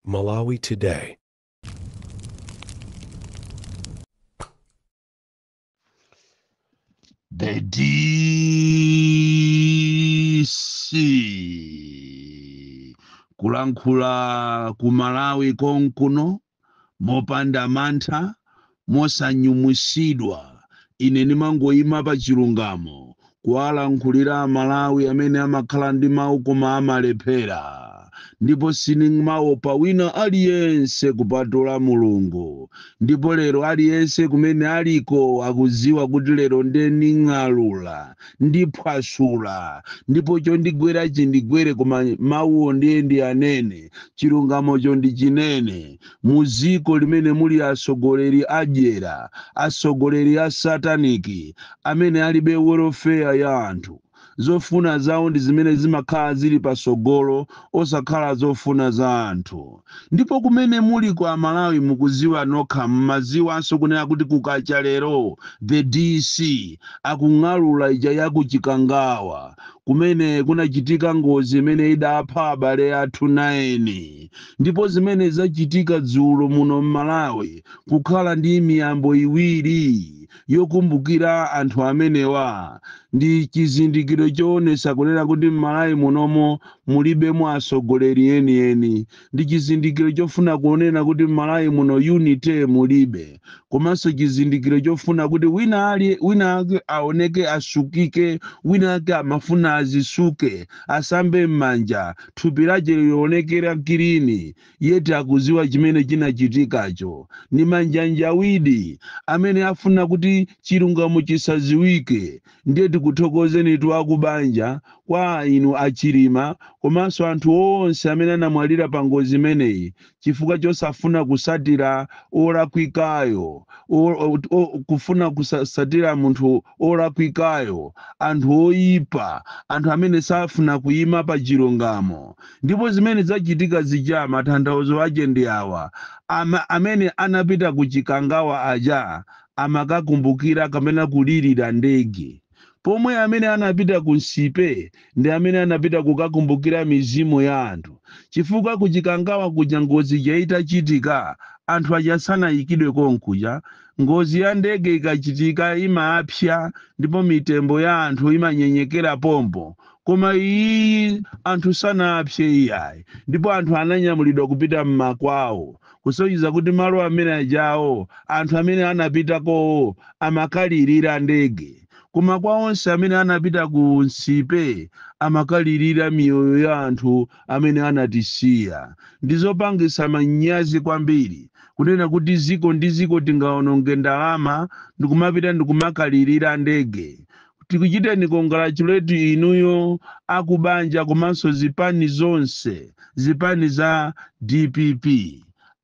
Malawi Today. The DC kulankhula ku Malawi konkuno Mopanda mantha, mosanyumwitsidwa, ine ndimangoima pa chilungamo kuwalankhulira a Malawi amene amakhala ndi mau koma amalephera. Ndipo sindimaopa wina aliyense kupatula Mulungu. Ndipo lero aliyense kumene aliko akudziwa kuti lero nde ndining'alula ndiphwasula, ndipo chondigwera chindigwere, koma mawuwo ndiye ndiyanene, chilungamocho ndichinene. Mu dziko limene muli atsogoleri adyera, atsogoleri a satanic, amene alibe welfare ya anthu, zofuna zawo ndi zimene zimakhala zili patsogolo osakhala zofuna za anthu. Ndipo kumene muliko a Malawi mukuziwa nokha mmaziwanso kunena kuti kukacha lero the DC akung'alula ija ya ku Chikangawa kumene kunachitika ngozi imene idapha abale athu 9 ndipo zimene zachitika dzulo muno mmalawi kukhala ndi miyambo iwiri yokumbukira anthu amenewa ndi chizindikiro choonesa kunena kuti mmalawi munomo Mulibemo atsogoleri enieni ndi chizindikiro chofuna kunena kuti Mmalawi muno unity mulibe komanso chizindikiro chofuna kuti wina ali wina ake aoneke asukike wina ake amafuna azisuke asambe mmanja thupi lache lionekere kilini yet akuziwa chimene chinachitikacho nimanjanjawidi amene afuna kuti chilungamo chisaziwike Ndiye tikuthokozenitu akubanja kwa inu a Chilima komanso anthu onse amene anamwalira pa ngozi imeneyi chifukwa chosafuna kusatira olakwikayo or kufuna kusasatira munthu olakwikayo anthu oyipa anthu amene safuna kuyima pa chilungamo ndipo zimene zachitika zija mathanthauzo ache ndi awa, amene anapita ku Chikangawa aja amakakumbukira kapena kulirira ndege, pomwe amene anapita ku Nsipe ndi amene anapita kukakumbukira mizimu ya anthu, chifukwa ku Chikangawa kuja ngozi ija itachitika, anthu aja sanayikidwe konkuja, ngozi ya ndege ikachitika imapsya ndipo mitembo ya anthu imanyenyekera pompo, koma iyiyi anthu sanapsye iyayi, ndipo anthu ananyamulidwa kupita m'makwawo. kusonyeza kuti malo amene ajawo anthu amene anapitakowo amakalirira ndege koma kwa onse amene anapita ku Nsipe amakalirira miyoyo ya anthu amene anatisiya. Ndizopangitsa manyazi kwambiri kunena kuti ziko ndi ziko tingaononge ndalama ndikumapita ndikumakalirira ndege tikuchiteni congratulate inuyo akubanja komanso zipani zonse zipani za dpp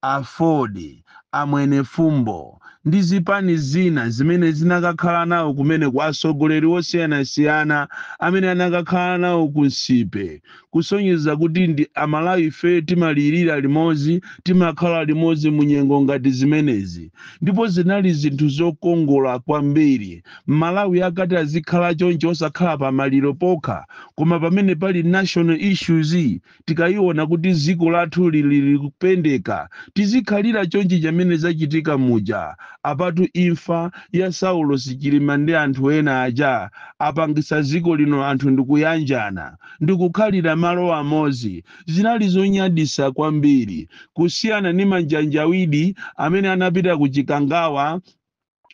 aford amwenefumbo ndi zipani zina zimene zinakakhala nawo kumeneko atsogoleri osiyanasiyana amene anakakhala nawo ku nsipe kusonyeza kuti ndi a Malawi ife timalirira limodzi, timakhala limodzi mu nyengo ngati zimenezi ndipo zinali zinthu zokongola kwambiri Malawi akati azikhala choncho osakhala pa maliro pokha koma pamene pali national issues tikayiona kuti dziko lathu lili kupendeka tizikhalira chonchi chamene zachitika muja apatu imfa ya Saulos Chilima ndi anthu ena aja apangitsa dziko lino anthu ndikuyanjana ndikukhalira malo amodzi zinali zonyaditsa kwambiri kusiyana ni manjanjawidi amene anapita ku Chikangawa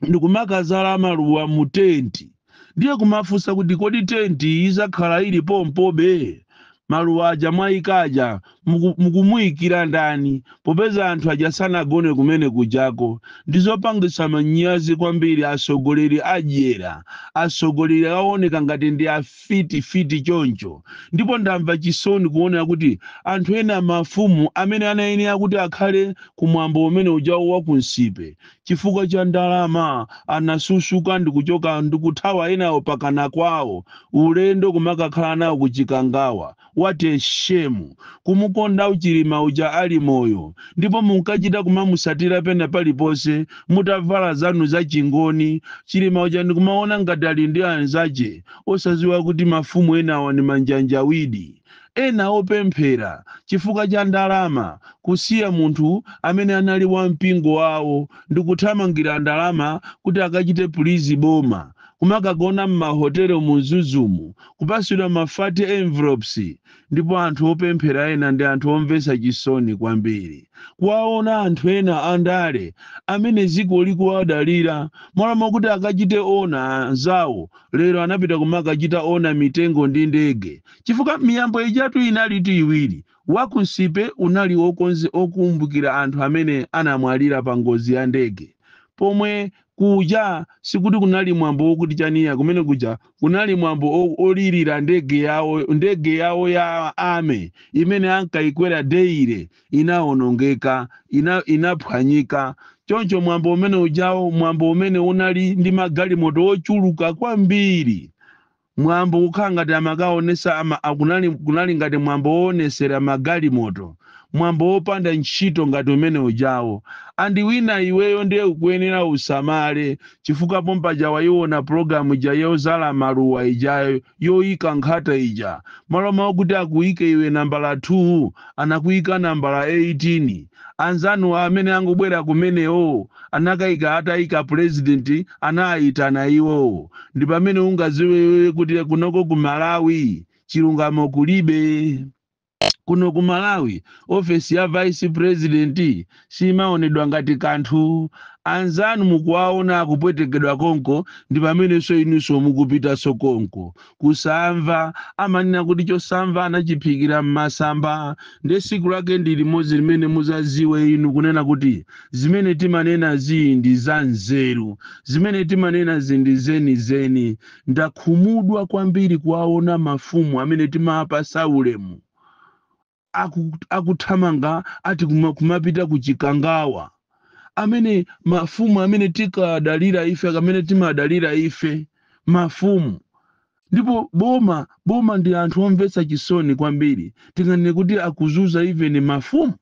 ndikumakadzala maluwa mu tenti ndiye kumafunsa kuti kodi tenti idzakhala ili pompobe maluwa aja mwaika aja mukumuyikira ndani popeza anthu aja sanagone kumene kujako ndizopangisa manyazi kwambiri atsogoleri adyera atsogoleri aoneka ngati ndi afiti fiti choncho ndipo ndamva chisoni kuonera kuti anthu ena mafumu amene anayenera kuti akhale kumwambo umene ujawo wakunsipe chifukwa cha ndalama anasusuka ndikuchoka ndikuthawa enawo pakana kwawo ulendo kumakakhala nawo kuchikangawa What a shame. Kumukonda Chilima uja ali moyo ndipo munkachita kumamusatira pena paliponse mutavala zanu za chingoni Chilima uja ndikumaona ngati ali ndi anzache osaziwa kuti mafumu enawa ni manjanjawidi. Ena opemphera chifukwa cha ndalama kusiya munthu amene anali wa mpingo wawo ndikuthamangira ndalama kuti akachite please boma. Kumakagona m'mahotelo mu Mzuzumu kupatsidwa ma fat envelopes ndipo anthu opemphera ena ndi anthu omvetsa chisoni kwambiri kuwaona anthu ena a ndale amene dziko likuwadalira malo mokuti akachite honour anzawo lero anapita kumakachita honour mitengo ndi ndege chifukwa miyambo ijatu inalitu iwiri wa ku nsipe unali wokonze- wokumbukira anthu amene anamwalira pa ngozi ya ndege pomwe Kuja sikuti kunali mwambo wokuti chani iya, kumene kuja kunali mwambo o, olirira ndege yawo, ndege yawo ya army imene ankayikwera daily inawonongeka, ina, inaphwanyika. Choncho mwambo umene ujawu, mwambo umene unali ndi magalimoto ochuluka kwambiri, Mwambo kukhala ngati amakaonesa ama a kunali kunali ngati mwambo woonesera magalimoto, mwambo wopanda ntchito ngati umene ujawu. And winawe iweyo nde ukuyenera usamale chifukwa pompaja waiona program ija yozala maluwa ija yoika nkhata ija, malo mokuti akuike iwe nambala 2 anakuika nambala 18. anzanu amene angobwera kumenewo anakaika, ataika president anaaitana iwo ndipamene ungaziwe kuti kunoko ku malawi chilungamo kulibe kuno ku malawi ofesi ya vice president simaonedwa ngati kanthu anzanu mukuwaona akupwetekedwa konko ndipamenenso inuso mukupitaso konko Kusamva, amanena kuti chosamva anachiphikira m'masamba, ndi tsiku lake ndi limodzi limene muzaziwe inu kunena kuti zimene timanena zi ndi za nzeru, zimene timanena zi ndi zeni zeni. Ndakhumudwa kwambiri kuwaona mafumu amene timapasa ulemu aku akuthamanga ati kuma, kumapita ku chikangawa amene mafumu amene tikadalira ife amene timadalira ife mafumu ndipo boma boma ndi anthu omvetsa chisoni kwambiri tinganene kuti akuzuza even mafumu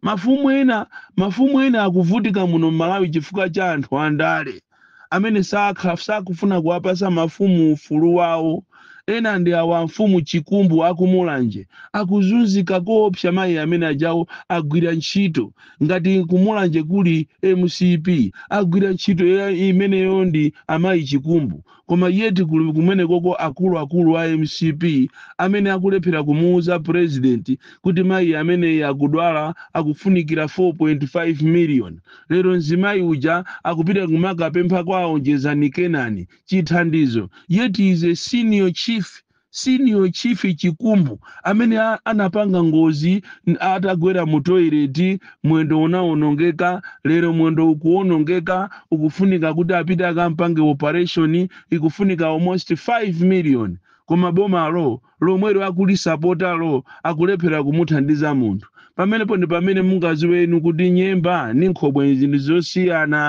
mafumu ena mafumu ena akuvutika muno m'malawi chifukwa cha anthu andale amene sakha, sakufuna kuwapasa mafumu ufulu wawo ena ndi awa amfumu chikumbu akumulanje akuzunzika koopsa mayi amene ajawo agwira ntchito ngati kumulanje kuli mcp agwira ntchito imeneyo ndi amayi chikumbu koma yet kuli kumenekoko akulu akulu a mcp amene akulephera kumuuza president kuti mayi ameneyi akudwala akufunikira 4.5 million Lero mzimayi uja akupita kumakapempha kwa a Onjezani Kenani chithandizo yet is a senior chief, Senior Chief Chikumbu amene a anapanga ngozi n atagwera mu toilet mwendo unawonongeka, lero mwendo ukuwonongeka ukufunika kuti apite akampange operation ikufunika almost 5 million koma bomalo lomwelo akulisapota lo akulephela kumuthandiza munthu pamenepo ndipamene mungaziwe inu kuti nyemba ndi khobwe nzinthu zosiyana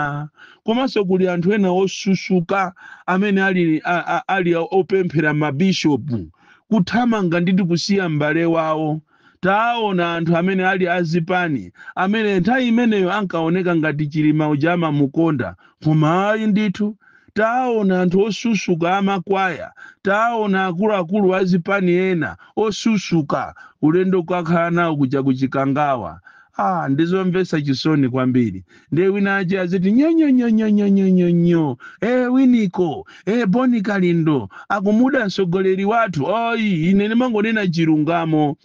komanso kuli anthu ena osusuka amene ali, a, a, ali opemphera mabishopu kuthamanga ndithu kusiya m'bale wawo Taona anthu amene ali a zipani amene nthawi imeneyo ankaoneka ngati Chilima uja amamukonda koma ayi ndithu. Taona anthu osusuka a makwaya, taona akuluakulu a zipani ena osusuka, ulendo kukakhala nawo kuja ku Chikangawa. Aaa ndi zomvetsa chisoni kwambiri. ndiye wina ache aziti nyonyonyonyonyonyonyo e winiko e boni kalindo akumuda mtsogoleri wathu oyi ine ndimangonena chilungamo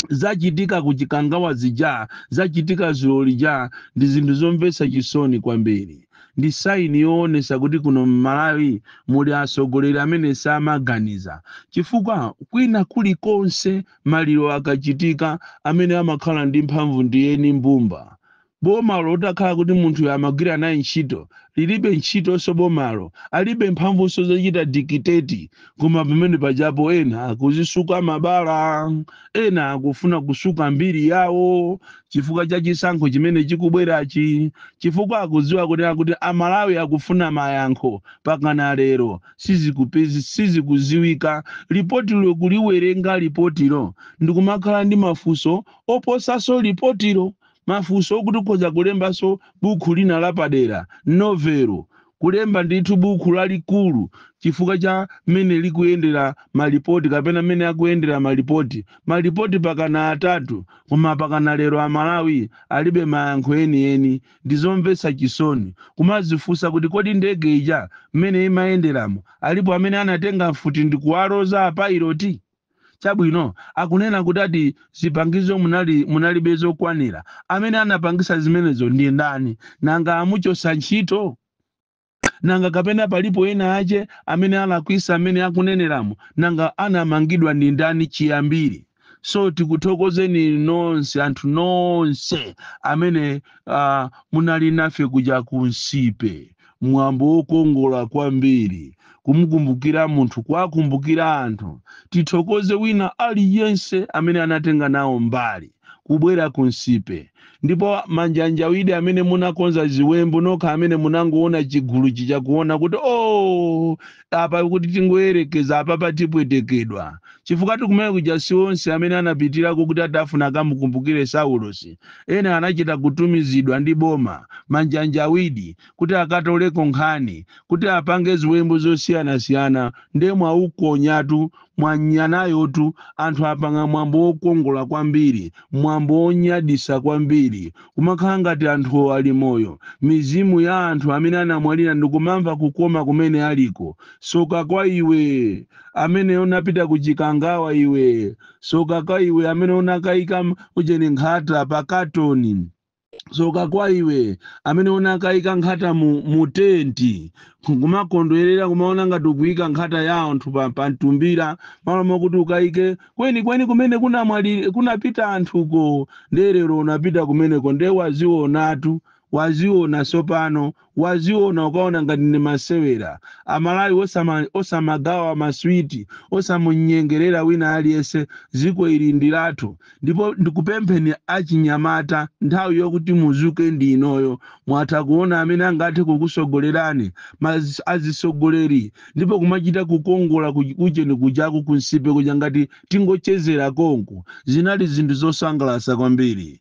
zachitika kuchikangawa zija zachitika zulo lija ndi zinthu zomvetsa chisoni kwambiri ndi saini yoonesa kuti kuno mmalawi muli atsogoleri amene samaganiza chifukwa kwina kulikonse maliro akachitika amene amakhala ndi mphamvu ndi eni mbumba Bomalo utakhala kuti munthuyo amagwira naye ntchito lilibe ntchitonso bomalo alibe mphamvunso zochita dictate koma pamene pajapo ena akuzisuka mabala ena akufuna kusuka mbiri yawo chifukwa cha chisankho chimene chikubwerachi chifukwa akudziwa kunena kuti amalawi akufuna mayankho pakana lero sizikuziwika lipotilo kuliwerenga lipotilo ndikumakhala ndi mafunso oposaso lipotilo mafunso okuti ukhoza kulembanso bukhu lina lapadera, novelo, kulemba ndithu bukhu lalikulu chifukwa cha mmene likuyendera malipoti kapena mmene akuyendera malipoti. Malipoti pakana atatu koma pakana lero amalawi alibe mayankho enieni. Ndizomvetsa chisoni kumazifunsa kuti kodi ndege ija mmene imayenderamo alipo amene anatenga mfuti ndikuwaloza a pilot? Chabwino, akunena kuti ati zipangizo munalibe zokwanira. Amene anapangisa zimenezo ndi ndani? Nanga amuchosa ntchito? Nanga kapena palipo ena ache amene alakwisa amene akuneneramo? Nanga anamangidwa ndi ndani chiyambire? So tikuthokozeni nonse, anthu nonse amene, uh, munali nafe kuja ku Nsipe. mwambo wokongola kwambiri kumukumbukira munthu kuwakumbukira anthu tithokoze wina aliyense amene anatenga nawo mbali kubwera ku nsipe ndipo manjanjawidi amene munakonza ziwembu nokha amene munangoona chiguluchi chakuona kuti o oh, apa kuti tingoyerekeza apapa tipwetekedwa chifukwa tikumene kuja si onse amene anapitirako kuti atafuna akamukumbukire saulosi ena anachita kutumizidwa ndi boma manjanjawidi kuti akatoleko nkhani kuti apange ziwembu zosiyanasiyana nde mwaukonyatu Mwanyanayotu anthu apanga mwambo wokongola kwambiri, mwambo wonyadisa kwambiri, kumakhala ngati anthuwo ali moyo, mizimu ya anthu amene anamwalira ndikumamva kukoma kumene aliko. Soka kwa iwe amene unapita ku Chikangawa iwe, soka kwa iwe amene unakaika ujeni nkhata pa katoni. soka kwa iwe amene unakayika nkhata mu, mu tenti kumakondwerera kumaona ngati ukuyika nkhata ya anthu pa, pa mtumbira malo mokuti ukayike kwenikweni kumene kunamwali kunapita anthuko nde lero unapita kumeneko nde wazionatu waziona tsopano waziona ukaona ngati ndi masewera. Amalawi osama osamagawa maswiti, osamunyengerera wina aliyense ziko ili ndilathu ndipo ndikupempheni achinyamata nthawi yokuti muzuke ndi inoyo mwatha kuona amene angathe kukusogolerani ma azisogoleri ndipo kumachita kukongola ku ujeni kujaku ku Nsipe kuja ngati tingochezera konku zinali zinthu zosangalasa kwambiri.